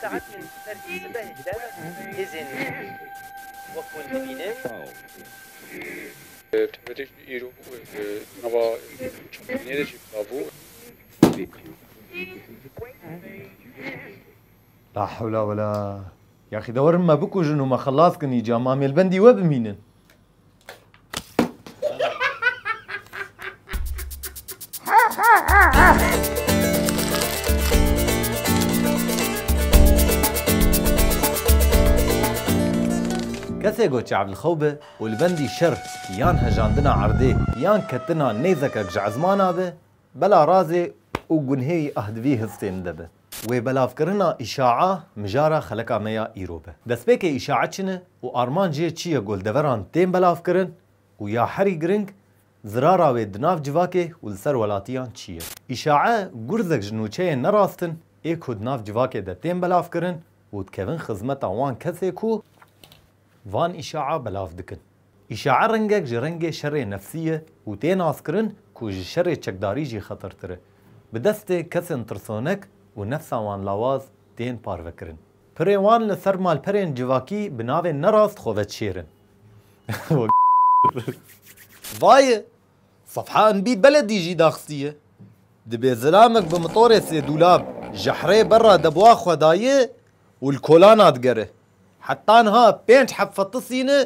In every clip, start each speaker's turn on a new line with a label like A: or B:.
A: Saetên ser sîzdehê de hêzên Lîbî wek hûn dibînin. Tevîrê jî îro di nava çavkaniyê de jî bila bû. La hewla wela. Yaxî de werin me bikujin û me xelas kin îca. Mamêlbendî we bimînin. Kesê ku çavlixew be û li bendî şer yan hejandina erdê yan ketina nêzekek ji ezmana be, bela razê û gunhêyî ahdivî histê min de be. Wê belavkirina îşaa mijara xeleka me ya îro be. Destpêkê îşaa çi ne û armancê çi ye gol deveran tên belavkirin û ya herî giring zirara wê di nav civakê û li ser welatiyan çi ye. Îşaa gurzek ji nûçeyên nerastin ê ku di nav civakê de tên belavkirin û dikevin xizmeta wan kesê ku van îşaa belav dikin. Îşae ringek ji ringê şerê nefsî ye û tê naskirin ku ji şerê çekdarî jî xetirtir e. Bi destê kesên tirsonek û nefsa wan lawaz tên parvekirin. Pirê wan li ser malperên civakî bi navên nerast xwe veçêrin. Vaye! Safha Enbî beledî jî daxistiye. Dibê zilamek bi mitorê sêdûlab ji hirê berra debwa xwe dayê û li kolana digere. Heta niha pênc heb fetisî ne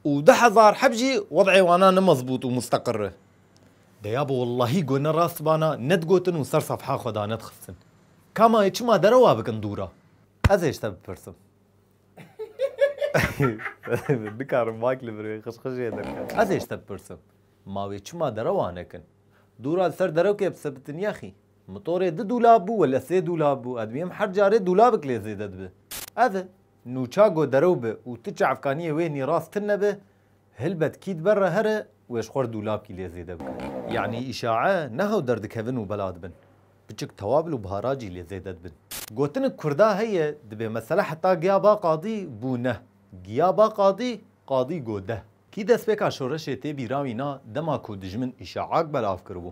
A: û du hezar heb jî wed'ê wana ne mezbût û musteqir e. Deya bi wellahî got ne rast bana ne digotin û ser sefha xwe da ne dixistin. Ka ma ê çima derewa bikin dûr a? Ez ê ji te bipirsim. Nikarim mak li vir wê xişxişê derket. Ez ê ji te bipirsim. Ma wê çima derewa nekin? Dûr a li ser derekê bisebitiniya xî? Motorê du dûlab bû wele sê dûlab bû ez dibînim her carê dûlabik lê zêde dibi. Ev e. Nûça go derew bi û tu çavkaniyê wêhnî rast tin nebe, hilbet kî dibe re here wê ji xwe re dûlabkî lê zêde bike. Yanî îşae ne hew derdikevin û bela dibin. Biçik tewabl û bihara cî lê zêde dibin. Gotinik kurda heye dibê mesele heta giya ba qadî bû ne. Giya ba qadî, qadî go de. Kî destpêka şoreşê tê bîra wîna dema ku dijmin îşaak belav kiribû.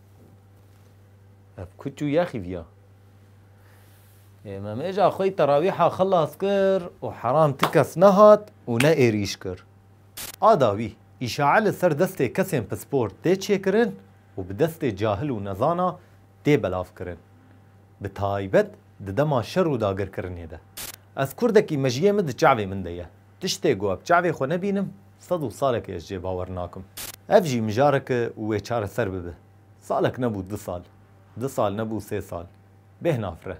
A: Ev ku çû yaxî viya. Êmemêja xwe terawîha xilas kir û heram ti kes nehat û ne êrîş kir. A dawî, îşae li ser destê kesên pispor tê çêkirin û bi destê cahil û nezana tê belavkirin. Bi taybet di dema şer û dagirkirinê de. Ez kurdekî mejiyê min di çavê min de ye. Tiştê ku eb çavê xwe nebînim, sed û salekê ez jê bawer nakim. Ev jî mijareke û wê çareser bibe. Salek nebû du sal, du sal nebû sê sal. Bêhna fre.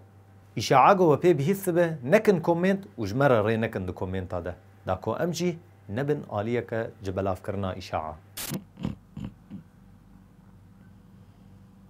A: Îşa ago we pê bihîstibe nekin komênt û ji me re rê nekin di komênta de da ku em jî nebin aliyeke ji belavkirina îşa a.